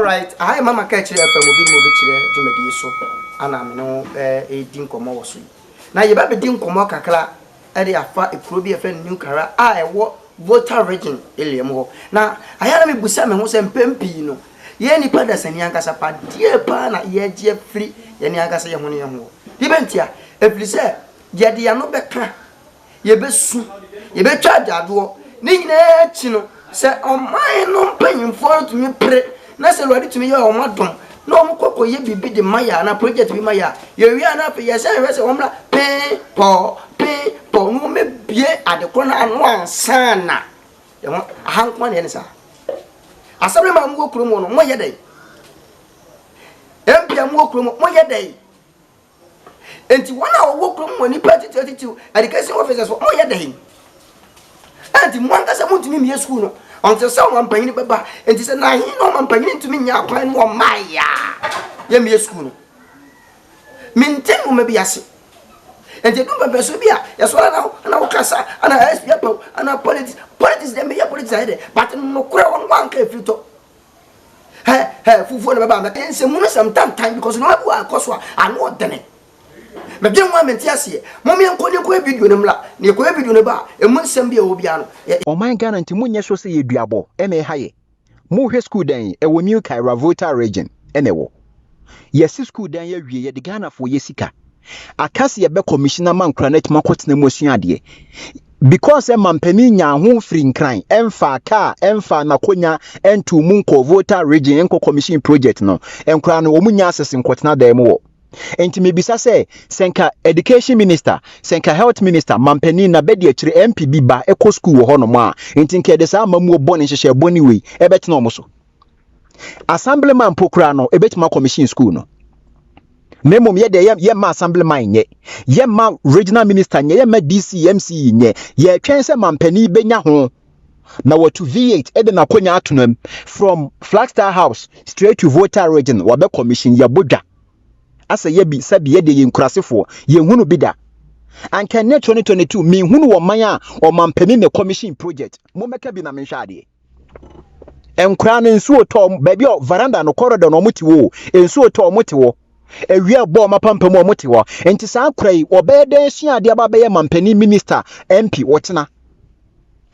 Alright, aha yɛ mama ka kyerɛ FM obi ne obi kyerɛ dwumadie so ana me ne wo ɛredi nkɔmmɔ wɔ so yi. Na yɛbɛbɛdi nkɔmmɔ kakra ɛde afa ekuro bi ɛfɛ New Kara a ɛwɔ Volta Region Iliam hɔ. Na ayɛ na mebusa me ho sɛ mpɛn pii no yɛn nipa dasani ankasa pa deɛ paa na yɛgye afiri yɛne ankasa yɛ ho ne yɛ ho. Deɛ bɛntia, ɛfiri sɛ Yɛde yɛn ano bɛka, yɛbɛsu, yɛbɛtwa agyaadwoɔ. Ne nyinaa akyi no, sɛ ɔman no mpanyimfoɔ no tumi pere na sɛ Awurade tumi yɛ wɔn adom na wɔn kɔ kɔyɛ biribi de ma yɛ anaa project bi ma yɛ a, yɛwie a na afei yɛsan hwɛ sɛ wɔn mmra pee pɔɔ pee pɔɔ na wɔn abue adekorɔ no ano ansa na yɛn ho aha nko na yɛ ne saa. Asɛm no ma mo wɔ kurom no mo yɛ dɛn? Mpia mo wɔ kurom mo yɛ dɛn? Enti wɔn a wɔwɔ kurom wɔ nnipa atitiriw atitiriw education officers wɔn yɛ dɛn? Enti mo ankasa mo ntumi mmie sukuu no ɔnte sɛ wɔn mpanyin bɛba. Enti sɛ na ahen na wɔn mpanyin ntumi nyɛ akwan no wɔn mmaa ya yɛ mmie sukuu no. Me nte mo ma bi ase. Enti edu mpɛmpɛ so bi a yɛsɔre na na wokasa ana SP apaw ana politics politics deɛ meyɛ politics ayɛ dɛ but nokorɛ wɔn wɔn anka efiri tɔ. hɛ hɛ fufuo na bɛba mɛka nsɛmu no sɛm tantan because nneɛma bi wɔ akɔ so a ano ɔdene mede nwa mente aseɛ mom yɛnkɔ ne kɔyɛ video no mmra na yɛkɔyɛ video no ba a ɛmu nsɛm bi a ɛwɔ biara no yɛ Ɔman Ghana nti monyɛ sure sɛ yɛ duabɔ na ɛha yɛ mohwɛ school dan yi ɛwɔ New Kaira Volta region na ɛwɔ yɛasi school dan yi awie yɛde Ghanafoɔ yɛ sika. Aka sɛ yɛbɛkɔ mission ama nkora no atumi akɔtena mu asua adeɛ. Because sɛ mampanin nyaa ho mfiri nkran, ɛmfaa kaa, ɛmfaa n'akonya, ɛntuu mu nkɔɔ Volta region nkɔ commission project no, nkora no wɔn nya access nkɔtena dan mu wɔ. Nti mebisa sɛ, sɛ nka education minister, sɛ nka health minister, mampanin na bɛdi akyire MP bi ba ɛkɔ school wɔ hɔnom a, nti nka yɛde saa amamuo bɔne nhyehyɛɛ bɔne wei ɛbɛtena wɔn so. assemblyman mpo koraa no ebetumi akɔ mission school no na mmom yɛ deɛ yɛmma assemblyman nyɛ yɛmma regional minister nyɛ yɛmma dc mc nyɛ yɛtwɛn sɛ mampanin bɛnya ho na wɔtu v8 ɛde n'akonya ato no mu from flagstar house straight to volta region wɔbɛ commission yɛbɔ dwa asɛ yɛbi sɛbi yɛdeɛ yɛ nkurasefoɔ yɛhunu bi da anka ne 2022 menhunu wɔ man a ɔmampanin ne commission project mommɛka bi na menhwɛ adeɛ Nkwadaa no nsuo tɔ wɔn baabi a veranda no corridor no wɔn te wɔ nsuo tɔ wɔn te wɔ ewia bɔ wɔn apampa mu wɔn te wɔ nti saa akora yi wɔbɛyɛ dɛn sua adeɛ aba bɛyɛ mampanin minister MP wɔkyena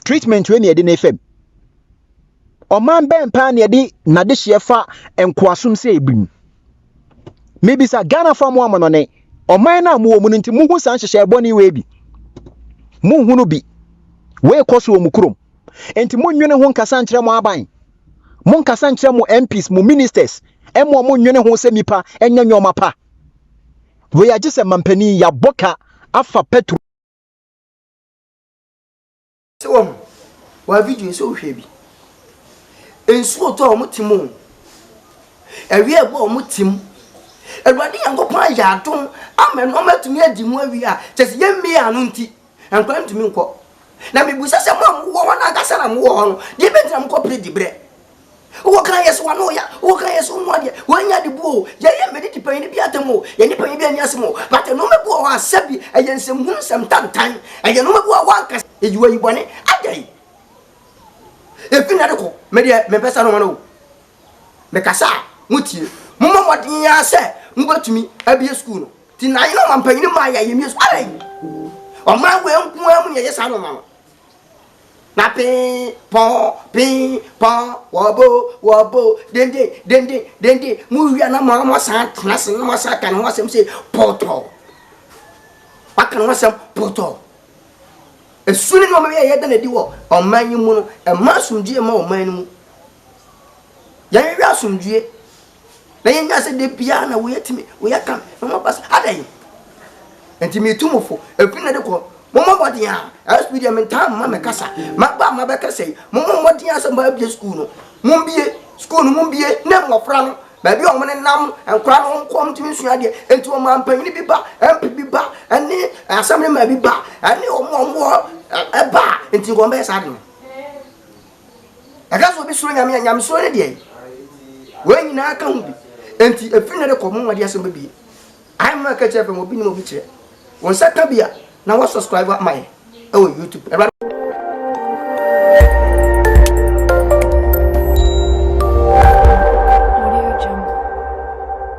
treatment wei na yɛde ne fam ɔman bɛn paa na yɛde n'adehyeɛ fa nkoasom sɛ ebi mu mebisa Ghana fa mu amono ne ɔman no a mowɔ mu no nti muhu saa nhyehyɛ ɛbɔ ne wei bi muhu no bi wei kɔ so wɔ mu kurom. Enti monnwene ho nkasa nkyerɛ mo aban. Monkasa nkyerɛ mo MPs, mo ministers, ɛmmoa mo nnwene ho sɛ nnipa nyɛ nneɛma pa. Wei agye sɛ mampanin yɛabɔ ka afa petro. Sɛ wahu wa video sɛ wohwɛ bi. Nsuo tɔ a wɔn tim o. Ɛwia ɛgu a wɔn tim. Awurade Nyankopɔn ayɛ adom ama nneɛma atumi adi mu awie a kyɛ sɛ yɛn mmea ano nti Nkwadaa ntumi nkɔ. Na mebisa sɛ mo a mowɔ hɔ no ankasa na mowɔ hɔ no, deɛ bɛnti na mokɔ pere diberɛ? Wowɔ kan yɛ so wa no ya, wowɔ kan yɛ so mu adeɛ, woanya de buo o, yɛyɛ mmɛdidi panyin bi atam o, yɛne panyin bi anni asɛm o, but nnoɔma bi wɔ hɔ a sɛbi ɛyɛ nsɛmhunu, nsɛmtantan, ɛyɛ nnoɔma bi wɔ hɔ a woanka sɛ eyi wayi bɔne, adɛn? Efi nnɛ de kɔ, me deɛ mempɛ saa nnoɔma no o. Mekasa a, motie. Mommɔ mmɔden ara sɛ mobɛtumi abue sukuu no. Nti na yɛn ɔmanpanyin maa yɛn ayamye so. Adɛn? Ɔman wei nko ara mu na yɛyɛ saa nneɛma no. Na pee pɔn pee pɔn wɔbo wɔbo denden denden denden mu wia na mo mo san tena ase na mo san ka ne ho asɛm sɛ pɔtɔ. Waka ne ho asɛm pɔtɔ. Esu ne nneɛma yɛ yɛda n'adi wɔ ɔman yi mu no, ɛma asomdwoe ma ɔman no mu. Yɛn yɛ asomdwoe. Na yɛnya sɛ da biara na woyɛ tumi, woyɛ kan, na wɔn abasa adɛn? Nti metu mo fo, efi na de kɔ, mommɔ mmɔden a, ɛsbi deɛ mentaa mma me kasa, maba a mabɛkasa yi, mommɔ mmɔden a sɛ moabie sukuu no, mombie, sukuu no mombie, na mmɔfra no, baabi a wɔn nenam, nkwadaa no wɔn kɔ wɔn tumi nsua adeɛ, nti wɔn a mpanyin bi ba, MP bi ba, ɛne asɛmblema bi ba, ɛne wɔn a wɔn wɔ ɛba, nti wɔn bɛyɛ saa de no. Ɛka sɛ obi suro Nyame a, nyamesuro ne deɛ. Wei nyinaa ka ho bi. Enti ɛfiri nnɛ de kɔ, mo nwade asɛm bɛbie. Ae mma ɛka kyerɛ fam, obi nim obi kyerɛ. Wo nsa ka bi a, na wɔ subscribe ama yɛ ɛwɔ YouTube. Awurade.